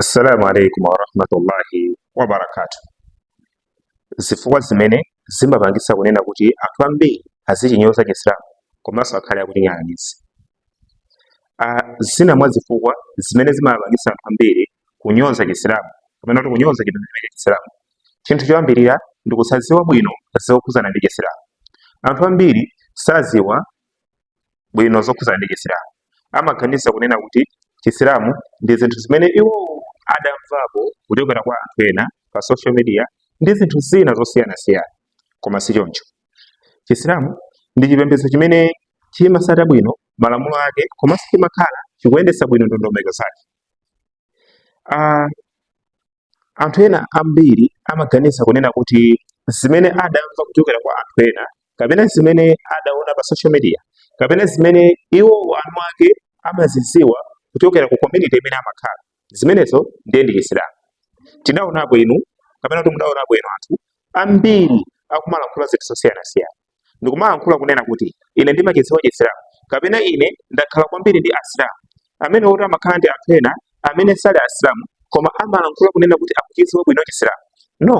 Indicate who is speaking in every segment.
Speaker 1: assalamu alaikum warahmatullahi wabarakatu zifukwa zimene zimapangitsa kunena kuti anthu ambiri azichinyoza chisilamu komanso akhale akuchinyalanyaza uh, zina mwa zifukwa zimene zimapangitsa anthu ambiri kunyoza chisilamu kapena kuti kunyoza chipembedzo cha chisilamu chinthu choyambirira ndi kusadziwa bwino zokhuzana ndi chisilamu anthu ambiri saziwa bwino zokhudzana ndi chisilamu amaganiza kunena kuti chisilamu ndi zinthu zimene iwo adamvapo kuchokera kwa anthu ena pa social media ndi zinthu zina zosiyanasiyana koma si choncho chisilamu ndi chipembedzo chimene chimasata bwino malamulo ake komanso chimakhala chikuyendesa bwino ndondomeko zake uh, Anthu ena ambiri amaganiza kunena kuti zimene adamva kuchokera kwa anthu ena kapena zimene adaona pa social media kapena zimene iwo anawake amaziziwa kuchokera ku community imene amakhala zimenezo ndiye ndi chisilamu tidaonapo inu kapena kuti mudaonapo inu anthu ambiri akumalankhula zinthu zosiyanasiyana ndikumalankhula kunena kuti ine ndimachidziwa chisilamu kapena ine ndakhala kwambiri ndi asilamu amene oti amakhala ndi anthu ena amene sali asilamu koma amalankhula kunena kuti akuchidziwa bwino chisilamu no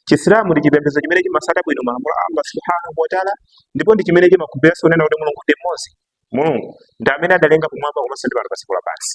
Speaker 1: chisilamu ndi chipembedzo chimene chimasata bwino malamulo a allah subhanahu wataala ndipo ndi chimene chimakhulupiriranso kunena kuti mulungu ndi mmodzi mulungu ndi amene adalenga kumwamba komanso ndi pano pa dziko lapansi